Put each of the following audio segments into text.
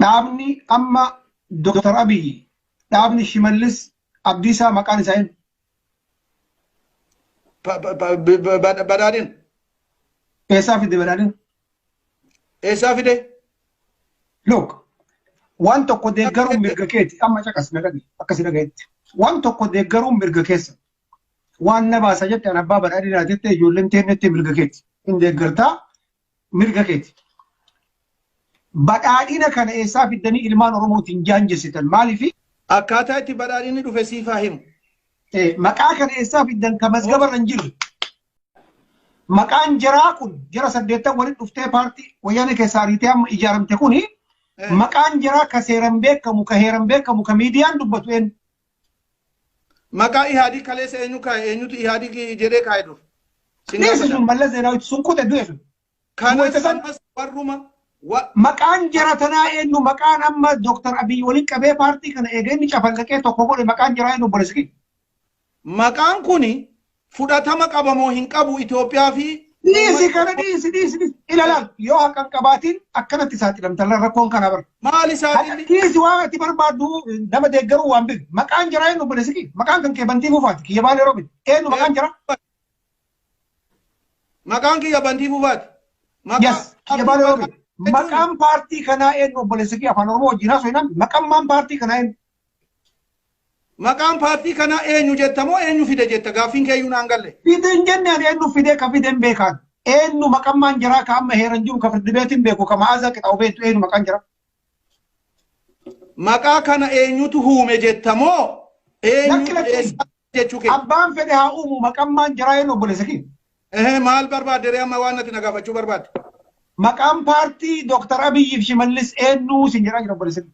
Dhaabni amma Dr. Abiy dhaabni Shimallis Abdiisaa maqaan isaa hin. Badhaadhin. Eessaa fide badhaadhin? Eessaa fide? Look, waan tokko deeggaruun mirga keeti amma caqas nagadhi akkasi dhagayetti. Waan tokko deeggaruun mirga keessa. Waan na baasa jette an abbaa badhaadhinaa jette ijoolleen teennetti mirga keeti. Hin deeggartaa mirga keeti. Badhaadhina kana eessaa fiddanii ilmaan Oromootiin jaanjessitan maaliifi? Akkaataa itti badhaadhinni dhufe siif haa himu. Eh, Maqaa kana eessaa fiddan ka mazgaba irra hin jirre. Maqaan jaraa kun jara saddeettan walitti dhuftee paartii wayyaanee keessaa ariitee amma ijaaramte kuni Eh. maqaan jaraa ka seeran beekamu ka heeran beekamu ka miidiyaan dubbatu eenyu? Maqaa Ihaadig kaleessa eenyu kaa'e? Eenyutu Ihaadig jedhee kaa'e dur? Sin Dhiisa gaafadha. sun Mallas Zeenaawitti sun kute du'e sun. Kanas Wayita san- ammas warruma wa- Maqaan jara tanaa eenyu maqaan amma Dr. Abiy waliin qabee paartii kana eega inni cafalqaqee tokko godhe maqaan jaraa eenyu obboleessa kiyya. maqaan kuni fudhatama qaba moo hin qabu Itoophiyaa fi Dhiisi kana dhiisi dhiisi dhiisi. Ilaalaal yoo haqa hin qabaatiin akkanatti saaxilamta rakkoon kana bara. maali saaxilli Dhiisi waan ati barbaaddu nama deeggaruu waan beeku. Maqaan jaraa eenyu obboleessi kee? Maqaan kan kee bantii fuufaati. Kiyya baalee roobi. Eenyu maqaan jaraa? maqaan kiyya bantii fufaati maqaa Yes. Kiyya baalee roobi. Maqaan paartii kanaa eenyu obboleessi kee afaan oromoo wajjin haasoo hinaan maqaan maan paartii kanaa eenyu? Maqaan paartii kanaa eenyu jetta moo eenyu fide jetta? Gaaffiin keeyyuu naan galle. Fide hin jenne ani eennu fidee ka fide hin beekaan. Eennu maqammaan jaraa ka amma heeran jiru ka firdibeetiin beeku ka Ma'aazaa Qixaawu beektu eenyu maqaan jaraa? Maqaa kana eenyutu huume jetta moo Lakki eenyutu lakki eessaa jechuu kee? abbaan fedhe haa uumu maqammaan jaraa eennu obboleessa kiyya. Ehe maal barbaadde ree amma waan natti na gaafachuu barbaadde? Maqaan paartii Dooktar Abiyyiif Shimallis eennu siin jedhaa jira obboleessa kiyya.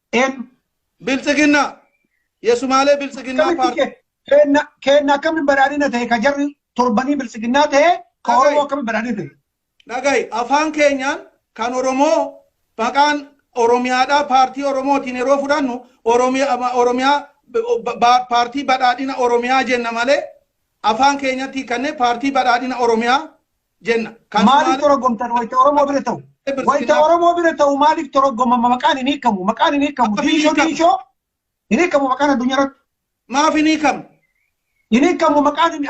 Eenyu? Biltsiginna. Yesumaalee biltsiginnaa Akkamitti paartii. ke- keenna keenna akkamitti badhaadhina ta'e ka jarri torbanii biltsiginnaa ta'e ka Dhaga'i. Oromoo akkamitti badhaadhina ta'e? Dhaga'i afaan keenyaan kan Oromoo maqaan Oromiyaadhaa paartii Oromootiin yeroo fudhannu Oromiyaa ma- Oromiyaa ba- ba- paartii badhaadhina Oromiyaa jenna malee afaan keenyatti kanneen paartii badhaadhina Oromiyaa jenna. Maaliif toroggomtan wayita Oromoo bira ta'u? Wayita Oromoo bira ta'u maaliif toroggomama maqaan hin hiikamu? Maqaan hin hiikamu. Maqaan hin Diinshoo hiikamu. diinshoo hin hiikamu maqaan addunyaa irratti. Maaf hin hiikamu? Hin hiikamu maqaan hin-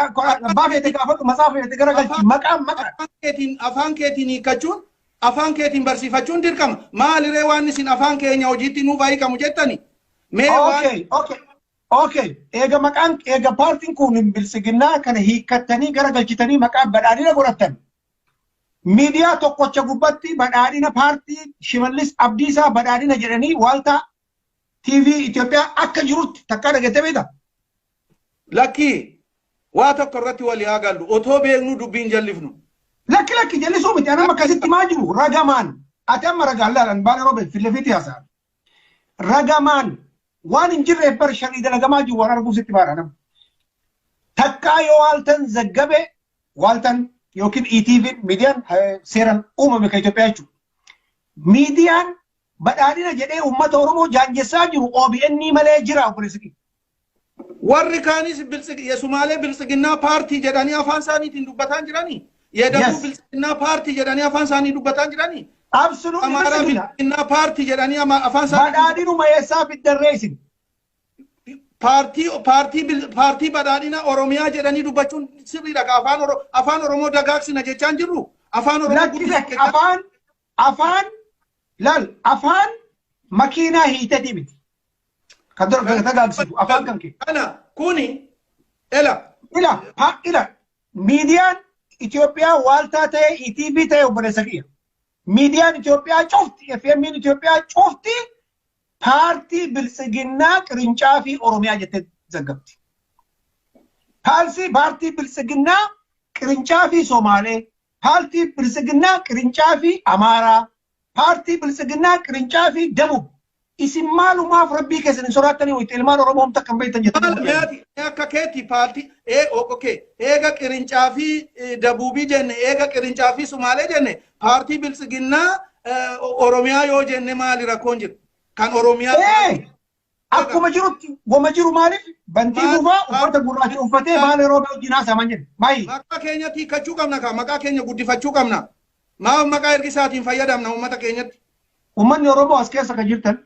abbaa feete gaafadhu masaa feete gara galchi. Maqaan maqaa. Afaan keetiin afaan keetiin hiikkachuun afaan keetiin barsiifachuun dirqama. Maaliree waan isin afaan keenya hojiitti nuuf hiikamu jettani? Mee waan Okay, okay. Okay, eega maqaan eega paartiin kun bilsiginnaa kana hiikkattanii gara galchitanii maqaa badhaadhina godhattan. Miidiyaa tokkocha gubbatti badhaadhina paartii Shimallis Abdiisaa badhaadhina jedhanii waaltaa TV Itoophiyaa akka jirutti takkaa dhageettee beekta? Lakkii waa tokko irratti walii haa gallu. Otoo beeknuu dubbiin jallifnu. Lakki lakki jallisuu miti anama akkasitti maa jiru ragamaan ati amma ragaan laalan baala robe fillefiitti haasa'an. ragamaan waan hin jirreef bar sharrii dalagamaa jiru waan arguuf sitti baadha nama. Takkaa yoo waaltan zaggabe waaltan yookiin ETV miidiyaan eh, seeraan uumame kan Itoophiyaa jechuudha. Miidiyaan badhaadhina jedhee uummata Oromoo jaanjessaa jiru OBN malee jira obboleessi kiyya. Warri kaanis biltsigi yesumaalee biltsiginnaa paartii jedhanii afaan isaaniitiin dubbataan jiranii? Yedaguu Yes. biltsiginnaa paartii jedhanii afaan isaanii dubbataan jiranii? Absolutely Amaaraa biltsigina. biltsiginnaa paartii jedhanii ama- afaan isaanii dubbataan Badhaadhinuma eessaa fiddarree isin? paartii paartii bil- paartii badhaadhina Oromiyaa jedhanii dubbachuun sirriidha ka afaan Oro- afaan Oromoo dagaagsina jechaan jirru afaan Oromoo Lakki guddisna lakki jechaa- afaan Afaan lal afaan makiinaa hiitetii miti. Kan dura gagata gaagsitu afaan kan kee. Kana kuni ela. Ila pa ila miidiyaan Itoophiyaa waaltaa ta'e ETV ta'e obboleessa kiyya. Miidiyaan Itoophiyaa cufti FMN Itoophiyaa cufti paartii biltsiginnaa qirincaafi Oromiyaa jettee zaggabdi. Paalsii paartii biltsiginnaa qirincaafi Somaalee Paartii Biltsiginnaa Qirincaafi Amaaraa, Paartii Biltsiginnaa Qirincaafi Debub, isin maalumaaf Rabbii keessan hin sodaattanii wayta ilmaan Oromoo homtu akka hin beektan jettan Maal mee ati mee akka keetti paartii ee ok eega Qirincaafi Debubii jenne eega Qirincaafi Sumaalee jenne paartii Biltsiginnaa Oromiyaa yoo jenne maali rakkoon jiru? Kan Oromiyaa Ee! Akkuma jirutti wama jiru maaliif bantii Maal- gufaa maal- uffata gurraacha uffatee maal- baalee roobee wajjin haasaman jedhe. Maayii. Maqaa keenyatti hiikkachuu qabna kaa maqaa keenya guddifachuu qabna. Maaf maqaa ergisaatiin fayyadamna uummata keenyatti. Uummanni Oromoo as keessa kan jirtan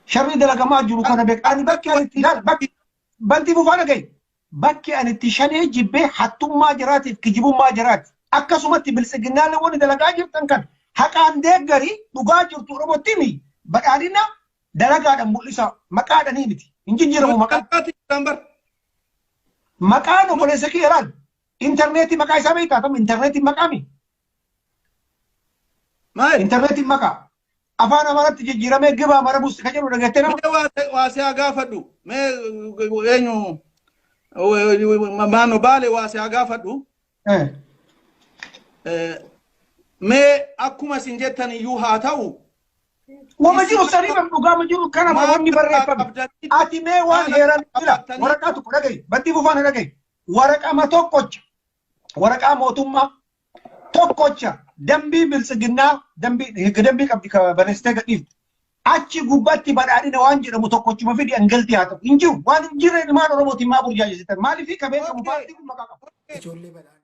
sharrii dalagamaa jiru kana beekaa. Ani bakki ani itti ilaala bakki bantii gufaa dhagaye. Bakki ani itti shanee jibbe hattummaa jaraatiif kijibummaa jaraati. Akkasumatti biltsiginnaalle wonni dalagaa jirtan kana haqaan deeggari, dhugaa jirtu Oromotti himi, badhaadhina dalagaadhan mul'isaa. Maqaadhanii miti. Hin jijjiiramu Nuti maqaan. dalagaa jirtan bar. Maqaan oboleessa kiyya laal. Interneetii maqaa isaa beektaa? Tam interneetiin maqaami? Maal? Intarneetiin maqaa afaan Amaaraatti jijjiiramee gibaa mara buusti kan jedhu dhageettee nama. Mee waa ta'e- waa si haa gaafadhu. Mee eh, eenyu maano baale waa si haa gaafadhu. Eh, Eh, Mee akkuma isin jettan iyyuu haa ta'u. Wama jiru sanii kan dhugaama jiru kana Maal wanni barreeffame. qabdanii- Ati mee waan Maal heeran jira qabdanii- waraqaa tokko dhagahi battii bufaana dhagahi waraqama tokkocha waraqaa mootummaa tokkocha dambii biltsiginnaa dambii higga dambii qabdi ka barreessitee gadhiifte. Achi gubbatti badhaadhina waan jedhamu tokkochuma fidi angalti haa ta'u. Hin jiru waan hin jirre ilmaan Oromootiin maa burjaajessitan maaliif ka beekamu Okay. paartii kun maqaa qaba. Ijoollee badhaadhina.